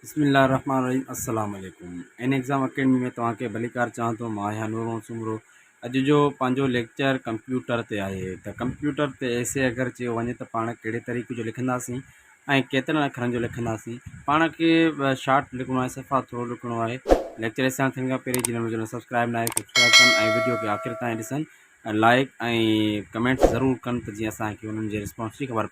بسم الله الرحمن الرحيم السلام عليڪم ان ايگزام اڪيڊمي ۾ توهان کي ڀليڪار چاهان ٿو مان آهيان نور محمد سومرو اڄ جو پنهنجو ليڪچر ڪمپيوٽر تي آهي ته ڪمپيوٽر تي ايسي اگر چيو وڃي ته پاڻ ڪهڙي طريقي جو لکنداسين ۽ ڪيترن اکرن جو لکنداسين پاڻ کي شارٽ لکڻو آهي صفا ٿورو لکڻو آهي ليڪچر اسان ٿيڻ کان پهرين جن مجھے سبسڪرائب نہ آهي سبسڪرائب ڪن ۽ ويڊيو کي آخر تائين ڏسن لائڪ ۽ ڪمينٽ ضرور ڪن ته جيئن اسانکي انهن جي رسپانس جي خبر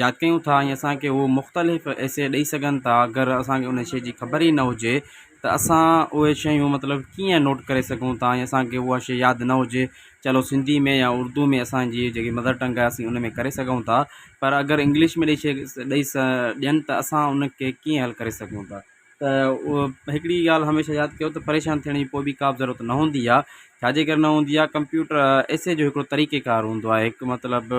ياد ڪيون ٿا ۽ اسان کي هو مختلف ايسي ڏئي سگهن ٿا اگر اسان کي ان شي جي خبر ئي نه هجي ته اسان اهي شيون مطلب ڪيئن نوٽ ڪري سگهون ٿا ۽ اسان کي اها شي ياد نه هجي چلو سنڌي ۾ يا اردو ۾ اسانجي جيڪي مدر ٽنگ آهي اسين ان ۾ ڪري سگهون ٿا پر اگر انگلش ۾ ڏئي شي ڏئي ڏين ته اسان ان کي ڪيئن حل ڪري سگهون ٿا ته اهو هڪڙي ڳالهه هميشه ياد ڪيو ته پريشان ٿيڻ جي ڪو بي ڪا به ضرورت نه هوندي آهي ڇاجي ڪري نه هوندي آهي ڪمپيوٽر ايسي جو هڪڙو طريقي ڪار هوندو آهي هڪ مطلب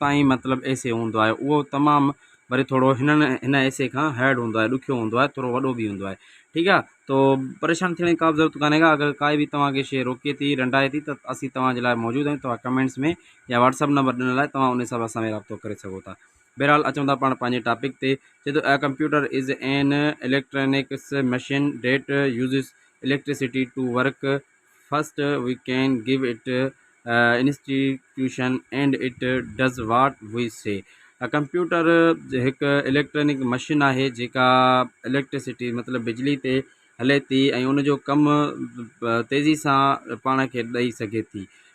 تائين مطلب ايسي هوندو آهي اهو تمام وري ٿورو هنن هن ايسي کان هيڊ هوندو آهي ڏکيو هوندو آهي ٿورو وڏو به هوندو آهي ٺيڪ آهي تو پريشان ٿيڻ جي ڪابه ضرورت ڪانهي ڪا اگر ڪائي به توهان کي شي روڪي ٿي رنڊائي ٿي ته اسين توهان جي لاء موجود آهيون توهان ڪمينٽس ۾ يا واٽسپ نمبر ڏنل آهي توهان ان حساب سان اسان رابطو ڪري سگهو ٿا بهرحال اچون ٿا پاڻ پنهنجي ٽاپڪ تي چي ٿو a computer is an electronics machine that uses electricity to work first we can give it instruction and it does what we say computer هڪ اليڪٽرانڪ مشين آهي جيڪا اليڪٽرسٽي مطلب بجلي تي هلي ٿي ۽ ان جو ڪم تيزي سان پاڻ کي ڏئي سگهي ٿي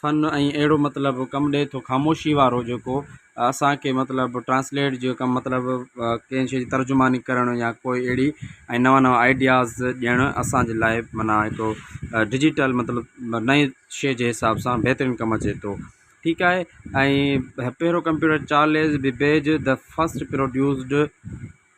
فن ۽ اهڙو مطلب ڪم ڏئي ٿو خاموشي وارو جيڪو اسانکي مطلب ٽرانسليٽ جي ڪم مطلب ڪنهن شي جي ترجماني ڪرڻ يا ڪوئي اهڙي ۽ نوان نوان آئيڊياز ڏيڻ اسانجي لاء معنيٰ هڪڙو ڊجيٽل مطلب نئي شي جي حساب سان بهترين ڪم اچي ٿو ٺيڪ آهي ۽ پهريون computer Charles Babbage the first produced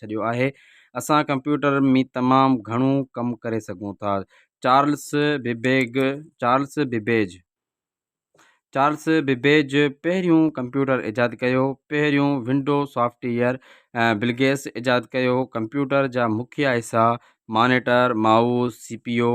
ڇڏيو آهي. اسان ڪمپيوٽر ۾ تمام گهڻو ڪم ڪري سگهون ٿا. Charles Babbage Charles Babbage Charles Babbage پهريون ڪمپيوٽر ايجاد ڪيو. پهريون ونڊو سافٽ ويئر بلگيس ايجاد ڪيو. ڪمپيوٽر جا مکيه حصا monitor, mouse, C P U,